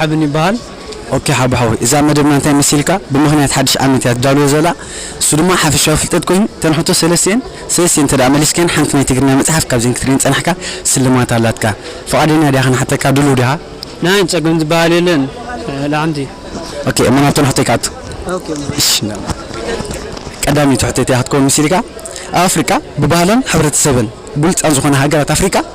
ሓብን ይበሃል ኦኬ ሓቡ ሓወይ እዛ መደብና እንታይ መሲልካ ብምኽንያት ሓድሽ ዓመት እያ ትዳልዎ ዘላ እሱ ድማ ሓፈሻዊ ፍልጠት ኮይኑ እተን ሕቶ ሰለስቲኤን ሰለስቲኤን እንተድኣ መሊስካየን ሓንቲ ናይ ትግርኛ መጽሓፍ ካብዘን ክትርእየን ዝጸናሕካ ስልማት ኣላትካ ፍቓደኛ ዲኻ ክንሓተካ ድሉው ዲኻ ናይ ጸገም ዝበሃል የለን ላዕንቲ። ኦኬ እሞ ናብተን ሕቶይ ክኣቱ እሺ ቀዳመይቲ ሕቶይ እንታይ እያ ክትከውን መሲልካ ኣብ ኣፍሪቃ ብባህለን ሕብረተሰበን ብሉጻት ዝኾና ሃገራት ኣፍሪቃ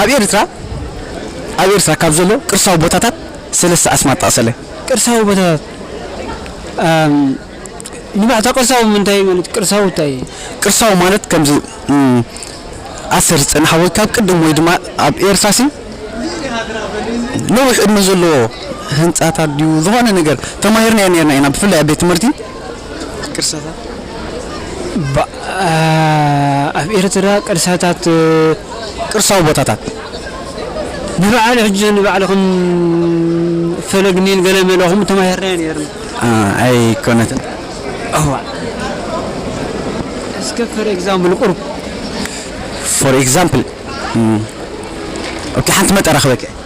ኣብ ኤርትራ ኣብ ኤርትራ ካብ ዘሎ ቅርሳዊ ቦታታት ሰለስተ ኣስማት ጠቕሰለይ። ቅርሳዊ ቦታታት ንባዕታ ቅርሳዊ ምንታይ እዩ ማለት ቅርሳዊ እንታይ እዩ? ቅርሳዊ ማለት ከምዚ ኣሰር ዝጸንሓ ወይ ካብ ቅድም ወይ ድማ ኣብ ኤርትራሲ ነዊሕ ዕድመ ዘለዎ ህንጻታት ድዩ ዝኾነ ነገር ተማሂርናዮ ኔርና ኢና ብፍላይ ኣብ ቤት ትምህርቲ ኣብ ኤርትራ ቅርሳታት፣ ቅርሳዊ ቦታታት፣ ንበዓል ሕጂ ንባዕልኹም ፈለግ ኒል ገለ መለ ከምኡ ተማሂርናዮ ኔርና። ኣይኮነትን እዋእ። እስከ for example ቁሩብ። for example ኦኬ ሓንቲ መጠራ ክበኪ።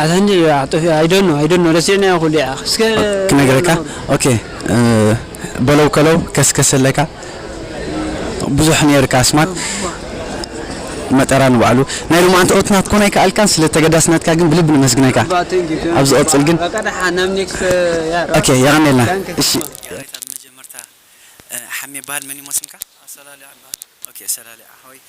ኣታ እንድዒ በዓኽ ጠፊኡ ኣይ ዶኖ ኣይ ዶኖ ረሲዕናዮ ኩሉ ይዓኽ እስከ ክነግረካ ኦኬ በለው ከለው ከስከስ ኣለካ ብዙሕ ነይርካ ኣስማት መጠራ ንባዕሉ ናይ ሎማዓንቲ ኦት ናትኮን ኣይከኣልካን ስለ ተገዳስነትካ ግን ብልቢ ነመስግነካ ኣባ ቴንክ ዩ ቴንክ ኣብ ዩ ዝቕጽል ግን በቃ ደሓን ናብ ኔክስት ያሮ ኦኬ የቐኔልና ዳንከ እሺ። ከማን። የቐኔታ ብመጀመርታ ሓሜ ይበሃል መን እዩሞ ስምካ። ኣሰላልዓ እበሃል። ኦኬ ኣሰላልዓ ሓወይ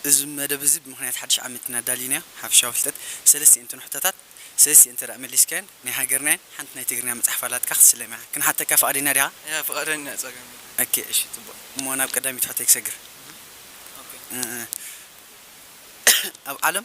እዚ መደብ እዚ ብምኽንያት ሓድሽ ዓመት ኢና ኣዳሊናዮ ሓፈሻዊ ፍልጠት ሰለስቲኤን ትኑ ሕቶታት ሰለስቲኤን እንተድኣ መሊስካየን ናይ ሃገርና እየን ሓንቲ ናይ ትግርኛ መጽሓፍ ኣላትካ ክትስለም ኢኻ ክንሓተካ ፍቓደኛ ዲኻ? እያ ፍቓደኛ እየ ጸገም የብሉን። ኦኬ እሺ ጽቡቕ እሞ ናብ ቀዳሚት ሕቶይ ክሰግር። ኦኬ። ኣብ ዓለም።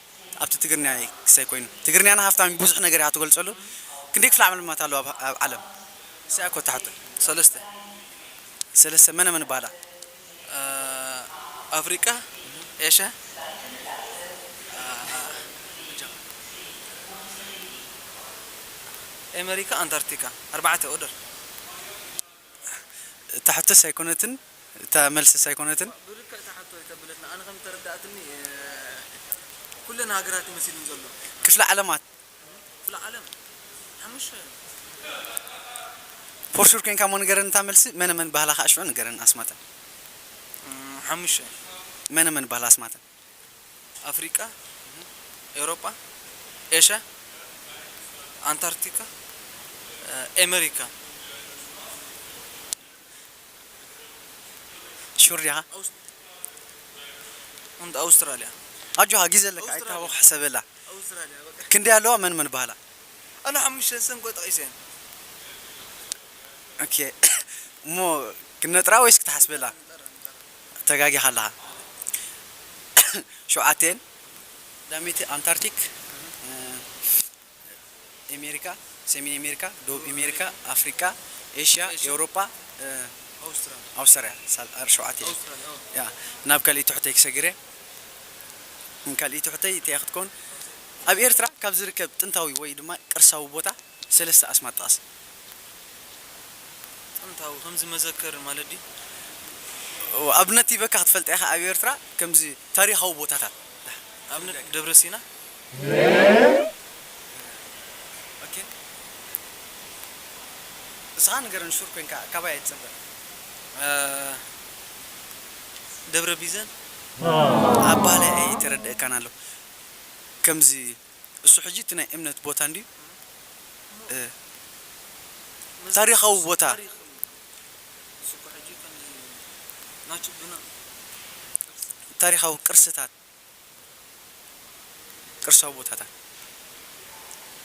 ኣብቲ ትግርንያ እየ ክሰይ ኮይኑ ትግርንያና ሃፍታም እዩ ቡዙሕ ነገር እያ ትገልጸሉ ክንደይ ክፍለ ዓለምማት ኣለዋ ኣብ ኣብ ዓለም እስያ እኮ እታ ሕቶ ሰለስተ ሰለስተ መነ መን ይባሃላ ኣብ ኣፍሪቃ ኤሻ ኤመሪካ ኣንታርቲካ ኣርባዕተ ኦደር። እታ ሕቶስ ኣይኮነትን እታ መልስስ ኣይኮነትን። እባ ብልክዕ እታ ሕቶ ኣይተብለትና ኣነ ከም ዝተረዳኣትኒ ኩለን ሃገራት እዩ መሲሉኒ ዘሎ። ክፍለ ዓለማት። ክፍለ ዓለም ሓሙሽተ እዮም። ፎርሹር ኮይንካ እሞ ንገረኒ እታ መልሲ መነ መን ባሃላ ካኣ ሽዑ ንገረኒ ኣስማተን። ሓሙሽተ። መነ መን ባሃላ ኣስማተን። ኣፍሪቃ ኤውሮጳ ኤሻ ኣንታርቲካ ኤመሪካ ሹር ዲኻ? ኣውስትራልያ ኣውስትራልያ ኣጆኻ ግዜ ኣለካ ኣይትታወኽ ኣውስትራልያ ሕሰበላ ኣውስትራልያ በቃ ክንደይ ኣለዋ መን መን ይበሃላ? ኣነ ሓሙሽተ ስም እኮ ጠቒሰየን። ኦኬ እሞ ክነጥራ ወይስ ክትሓስበላ? ንጠራ ንጠራ ተጋጊኻ ኣለኻ ሸውዓተ እየን። ቀዳመይቲ ኣንታርቲክ ኤሜሪካ ሰሜን ኤሜሪካ ደቡብ ኤሜሪካ ኣፍሪቃ ኤሽያ ኤውሮጳ ኣውስትራልያ ሳል ሸውዓተ እየን ናብ ካልእይ ትሑተይ ክሰግር እየ ካልእይ ትሑተይ እተይ እያ ክትከውን ኣብ ኤርትራ ካብ ዝርከብ ጥንታዊ ወይ ድማ ቅርሳዊ ቦታ ሰለስተ ኣስማት ጥቐስ። ጥንታዊ ከምዚ መዘከሪ ማለት ድዩ? እወ ኣብነት ሂበካ ክትፈልጣ ኢኻ ኣብ ኤርትራ ከምዚ ታሪኻዊ ቦታታት ኣብነት ደብረ ሲና። ኦኬ እስኻ ንገረኒ ሹር ኮንካ ካባይ ኣይትጸበ። ደብረ ቢዘን ኣብ ባህላይ ኣይተረደኣካን ኣሎ ከምዚ። እሱ ሕጂ እቲ ናይ እምነት ቦታ እንድዩ እም ታሪኻዊ ቦታ። ታሪኻዊ ቅርስታት ቅርሳዊ ቦታታት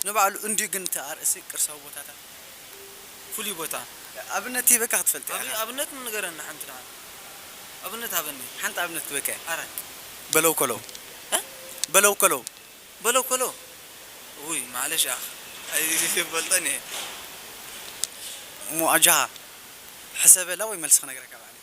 ንባዕሉ እንድዩ ግን እቲ ኣርእስቲ ቅርሳዊ ቦታታት። ፍሉይ ቦታ። ኣብነት ሂበካ ክትፈልጥ ኢኻ። ኣብነት ንገረኒ ሓንቲ ንዓና ኣብነት ሃበኒ። ሓንቲ ኣብነት በቀ። ኣራት። በለው ኮለው። እ። በለው ኮለው። በለው ኮለው። እውይ ማዕለሽ ኣኽ ኣይፈልጦን እየ። ሙዋጃሃ። ሕሰበላ ወይ መልሲ ክነግረካ ባዕለይ።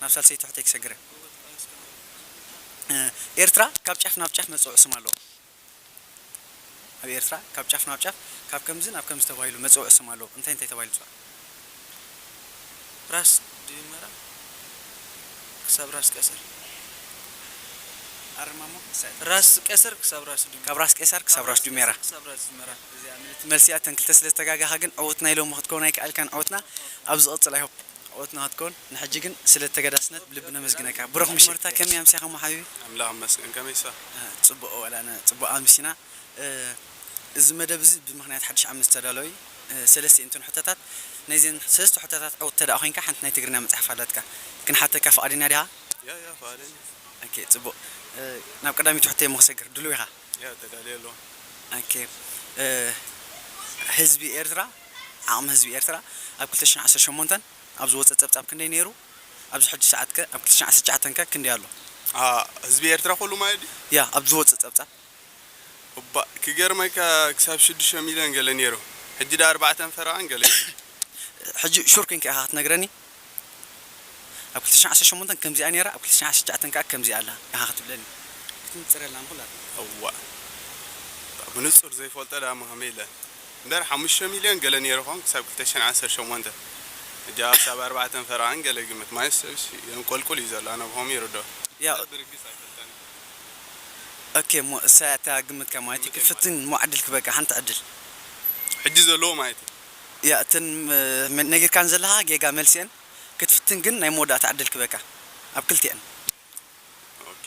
ናብ ሳልሰይቲ ሕቶይ ክሰግረ። ኤርትራ ካብ ጫፍ ናብ ጫፍ መጸውዒ ስም ኣለዎ። ኣብ ኤርትራ ካብ ጫፍ ናብ ጫፍ ካብ ከምዚ ናብ ከምዚ ተባሂሉ መጸውዒ ስም ኣለዎ። እንታይ እንታይ ተባሂሉ ይጽዋዕ? ራስ ድዩ መራ ክሳብ ራስ ቀስር? ኣርማሞ ራስ ቀስር ክሳብ ራስ ድዩ ካብ ራስ ቄሳር ክሳብ ራስ ድዩ ሜራ። ክሳብ ራስ ድዩ መራ። እዚኣ ምልእቲ መልሲ እያ። እተን ክልተ ስለ ዝተጋገኻ ግን ዕውትና ኢሎሞ ክትከውን ኣይከኣልካን። ዕውትና ኣብ ዝቕጽል i hope። ኦት ናትኮን ንሕጂ ግን ስለ ተገዳስነት ብልቢ ነመስግነካ ብሩኽ ምሽት። መርታ ከመይ ኣምሲካሞ ሓቢቢ። ኣምላኽ ይመስገን ከመይ ኢኻ። እህ ጽቡቅ ወላነ ጽቡቅ ኣምሲና እዚ መደብ እዚ ብምኽንያት ሓድሽ ዓመት ዝተዳለወ እዩ ሰለስቲኤንተን ሕቶታት ናይዘን ሰለስተ ሕቶታት ዕውት ተደኣ ኮንካ ሓንቲ ናይ ትግርንያ መጽሓፍ ኣላትካ ክንሓተካ ፍቃደኛ ዲኻ? ያያ ፍቃደኛ። ኦኬ ጽቡቅ ናብ ቀዳመይቲ ሕቶይ እሞ ክሰግር ድሉው ኢኻ? ህዝቢ ኤርትራ፣ ዓቕሚ ህዝቢ ኤርትራ ኣብ ክልተ ሽሕን ዓሰርተ ሸሞንተን ኣብ ዝወጸ ጸብጻብ ክንደይ ነይሩ? ኣብዚ ሕጂ ሰዓት ከ ኣብ ክልተ ሽሕን ዓሰርተ ትሽዓተን ከ ክንደይ ኣሎ? ህዝቢ ኤርትራ ኩሉ ማለት ድዩ? ያህ ኣብ ዝወጸ ጸብጻብ። እባእ ክገርመካ ክሳብ ሽዱሽተ ሚልዮን ገለ ነይሩ ሕጂ ድኣ ኣርባዕተን ፈረቓን ገለ ኢዩ። ሕጂ ሹር ኮንካ ኢኻ ክትነግረኒ? ኣብ ክልተ ሽሕን ዓሰርተ ሸሞንተን ከምዚኣ ኔራ ኣብ ክልተ ሽሕን ዓሰርተ ትሽዓተን ከኣ ከምዚኣ ኣላ ኢኻ ክትብለኒ ክትንጽረልና ንኹላትና። እዋእ ብንጹር ዘይፈልጦ ደኣ ምሃመይ ኢለ እምበር ሓሙሽተ ሚልዮን ገለ ኔሩ ይኸውን ክሳብ ክልተ ሽሕን ዓሰርተ ሸሞንተ ሕጂ ኣኣ ክሳብ ኣርባዕተን ፈረቓን ገለ ግምት ማለት ሰብሲ የንቆልቁል እዩ ዘሎ ኣነ ብኸምኡ ይርድኦ እምበር ብርግጽ ኣይፈልጠን ኦኬ እሞ እሳ እያ እታ ግምትካ ማለት እዩ ክፍትን እሞ ዕድል ክበቅዕ ሓንቲ ዕድል። ሕጂ ዘለዎ ማለት እዩ። እያ እተን ነጊርካን ዘለካ ጌጋ መልሲኤን ክትፍትን ግን ናይ መወዳእታ ዕድል ክበካ ኣብ ክልቲኤን። ኦኬ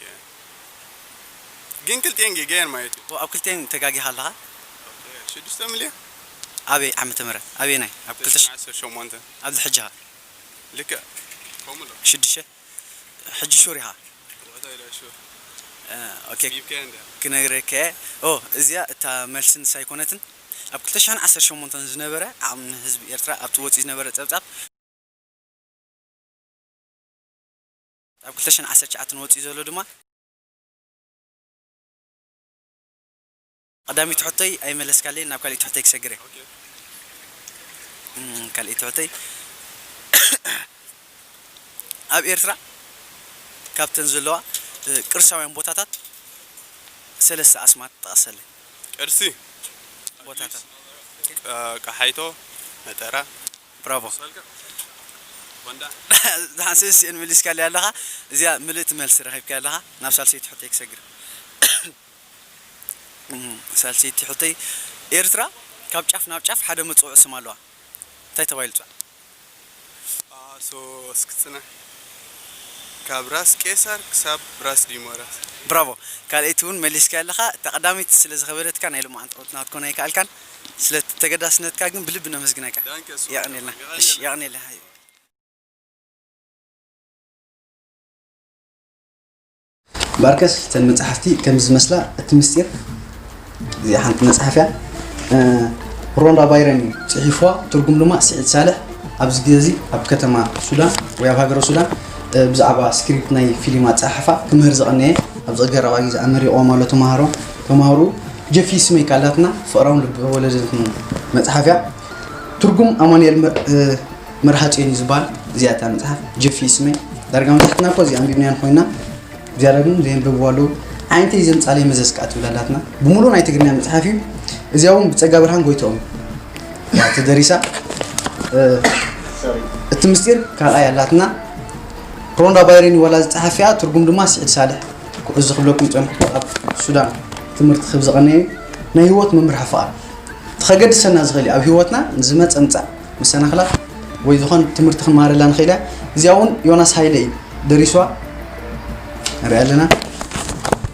ግን ክልቲኤን ጌጋ እየን ማለት እዩ። ኣብ ክልቲኤን ተጋጊካ ኣለካ። ኦኬ ሽዱሽተ ምልዮን። ኣበይ ዓመተ ምህረት ኣበየናይ ኣብ ክልተ ሽሕን ዓሰርተ ሸሞንተን ኣብዚ ሕጂ ከ። ልክዕ ከምኡ ኣሎ። ሽዱሽተ። ሕጂ ሹር ኢኻ? ዋታ ኢላ ሹር ኣጽቢብካያ እንድያ። ክነግረካ'የ ኦ እዚኣ እታ መልሲ ንሳ ኣይኮነትን ኣብ ክልተ ሽሕን ዓሰርተ ሸሞንተን ዝነበረ ዓቕሚ ንህዝቢ ኤርትራ ኣብቲ ወጺኡ ዝነበረ ጸብጻብ፣ ኣብ ክልተ ሽሕን ዓሰርተ ትሽዓተን ወጺኡ ዘሎ ድማ፣ ቐዳሚት ሕቶይ ኣይመለስካለይን ናብ ካሊእት ሕቶይ ክሰግር እየ ካሊእት ሕቶይ ኣብ ኤርትራ ካብተን ዘለዋ ቅርሳውያን ቦታታት ሰለስተ ኣስማት ጥቐሰለይ። ቅርሲ ቦታታት ቀሓይቶ መጠራ። ብራቮ ደሓን ሰለስቲኤን መሊስካለይ ኣለኻ እዚኣ ምልእቲ መልሲ ረኺብካያ ኣለኻ ናብ ሳልሰይቲ ሕቶይ ክሰግር እየ። ሳልሰይቲ ሕቶይ ኤርትራ ካብ ጫፍ ናብ ጫፍ ሓደ መጸውዒ ስም ኣለዋ እንታይ ተባሂሉ ትጽዋዕ? ኣሶ እስኪ ጽናሕ ካብ ራስ ቄሳር ክሳብ ራስ ዲሞራስ። ብራቮ ካልኣይቲ ውን መሊስካዮ ኣለኻ እታ ቀዳመይቲ ስለ ዝኸበደትካ ናይ ሎማዓንቲ ቁንዕና ክትኮን ኣይከኣልካን ስለ ተገዳስነትካ ግን ብልቢ ነመስግነካ ዳንኬ ሶል የቐኔልና የቐኔልና እሺ የቐኔልና። ባርከስ እተን መጻሕፍቲ ከምዚ ዝመስላ እቲ ምስጢር እዚኣ ሓንቲ መጽሓፍ እያ ሮንዳ ባይረን እዩ ጽሒፍዋ ትርጉም ድማ ስዒድ ሳልሕ ኣብዚ ግዜ እዚ ኣብ ከተማ ሱዳን ወይ ኣብ ሃገረ ሱዳን ብዛዕባ ስክሪፕት ናይ ፊልም ኣፀሓሕፋ ክምህር ዝቐነየ ኣብዚ ቀረባ ግዜ ኣመሪቖም ኣሎ ተምሃሮ ተምሃሩ ጀፊ ስመይ ካላትና ፍቕራውን ልቢ ወለድን መፅሓፍ እያ ትርጉም ኣማኑኤል መርሃ ጽዮን እዩ ዝበሃል እዚኣ እታ መጽሓፍ ጅፍ እዩ ስመይ ዳርጋ መብዛሕትና እኮ እዚ ኣንቢብናያን ኮይና እግዚኣብሔር ግን ዘየንብብዎ ኣለዉ ዓይነተይ ዘምጻለይ መዘዝ ከዓ ትብል ኣላትና ብምሉእ ናይ ትግርኛ መጽሓፍ እዩ እዚኣ እውን ብጸጋ ብርሃን ጎይትኦም ተደሪሳ እቲ ምስጢር ካልኣይ ኣላትና ሮንዳ ባይሬን ዋላ ዝፀሓፊያ ትርጉም ድማ ስዒድ ሳልሕ እዚ ክብለኩም ፀንሕኩ ኣብ ሱዳን ትምህርቲ ክብ ዝቐነየ ናይ ህይወት መምህር ሓፋኣር ተኸገድሰና ዝኽእል ኣብ ህይወትና ንዝመፀ ምፃእ መሰናኽላት ወይ ዝኾነ ትምህርቲ ክንመሃረላ ንኽእል እያ እዚኣ እውን ዮናስ ሃይለ እዩ ደሪሷ ንሪኣ ኣለና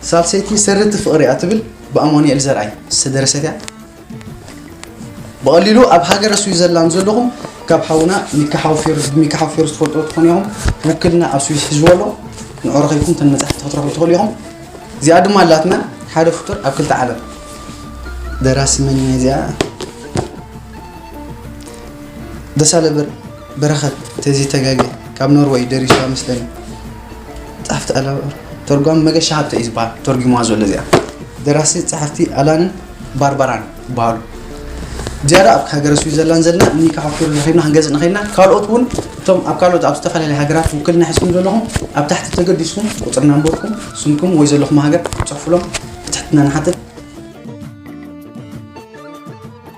ሳልሰይቲ ሰረቲ ፍቕሪ እያ ትብል ብኣማኑኤል ዘርኣይ ዝተደረሰት እያ ብቐሊሉ ኣብ ሃገረ ስዊዘርላንድ ዘለኹም ካብ ሓውና ሚካ ሓውፌሩ ሚካ ሓውፌሩ ዝፈልጡ ትኾኑ ኢኹም ውክልና ኣብ ስዊዝ ሒዝዎ ኣሎ ንዑ ረኺብኩም ተን መፅሕፍቲ ክትረኽቡ ትኽእሉ ኢኹም እዚኣ ድማ ኣላትና ሓደ ፍጡር ኣብ ክልተ ዓለም ደራሲ መን እያ እዚኣ ደሳለ ብር በረኸት ተዚ ተጋገ ካብ ኖርወይ ደሪሱዋ መስለኒ ጻሕፍቲ ኣላ ተርጓሚ መገሻ ሃብተ እዩ ዝበሃል ተርጒሙዋ ዘሎ እዚኣ ደራሲ ጻሕፍቲ ኣላንን ባርባራን ይበሃሉ ዝያዳ ኣብ ሃገረ ስዊዘርላንድ ዘለና እኒ ካሓኩር ንኸድና ክንገዝእ ንኸድና ካልኦት እውን እቶም ኣብ ካልኦት ኣብ ዝተፈላለየ ሃገራት ውክልና ሒዝኩም ዘለኹም ኣብ ታሕቲ ተገዲስኩም ቁፅሪ ናምበርኩም ስምኩም ወይ ዘለኹም ሃገር ፅሑፍሎም ብትሕትና ንሓትት